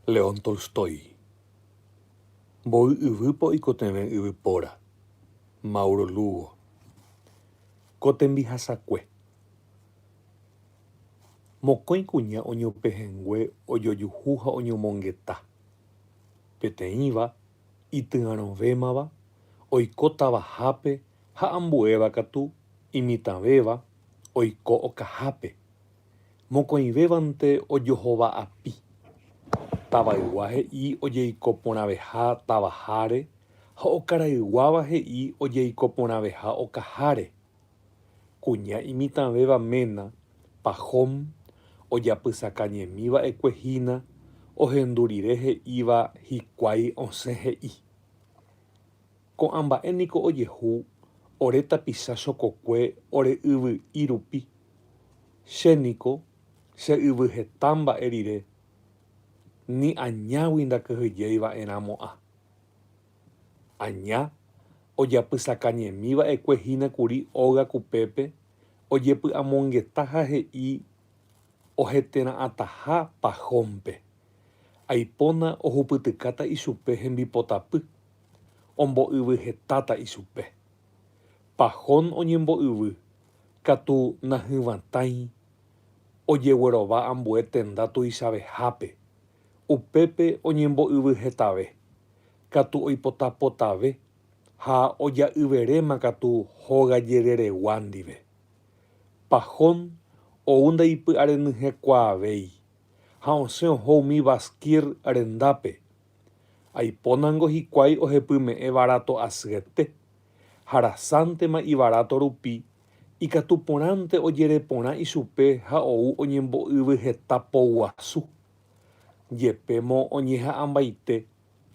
León Tolstói. Mboy yvýpe oikotevẽ yvypóra. Mauro Lugo. Ko tembihasakue. Mokõi kuña oñopehẽngue ojojuhu ha oñomongeta. Peteĩva, ityarõvémava, oiko tavahápe ha ambuéva katu, imitãvéva, oiko okahápe. Mokõivévante ojohóva api. Tavaygua he'i ojeiko porãveha tavaháre ha okarayguáva he'i ojeiko porãveha okaháre. Kuña imitãvéva ména, Pahom, ojapysaka ñemi va'ekue hína ohendu rire he'íva hikuái osẽ he'i. Ko'ã mba'e niko ojehu ore tapicha chokokue ore yvy'i rupi. Che niko che yvy heta mba'e rire, ni añágui ndakyhyjéi va'e ramo'ã. Aña ojapysakañemi va'ekue hína kuri óga kupépe ojepy'amongeta ha he'i ohetera'ãtaha Pajónpe. Aipóna ohupytykáta ichupe hembipotapy. ombo'yvy hetáta ichupe. Pahón oñembo'yvy katu nahyvãtãi ojeguerova ambue tenda tuichavehápe, upépe oñembo'yvy hetave katu oipota potave ha oja'yveréma katu hóga jereregua ndive. Pahón ou ndaipy'arenyhẽkuaavéi ha osẽ oho umi Basquir rendápe, Aipónango hikuái ohepyme'ẽ varáto asyetépe, ha rasántema ivaráto rupi, ikatu porãnte ojereporã ichupe ha ou oñembo'yvy heta po guasu. Jepémo oñeha'ãmbaite,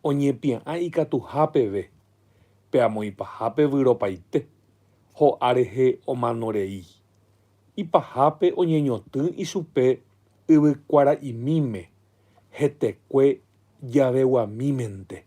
oñepia'ã ikatuha peve, pe amoipahápe vyropaite, ho'a rehe omano rei. Ipahápe oñeñotỹ ichupe yvykuara'imíme, hetekue javeguamímente.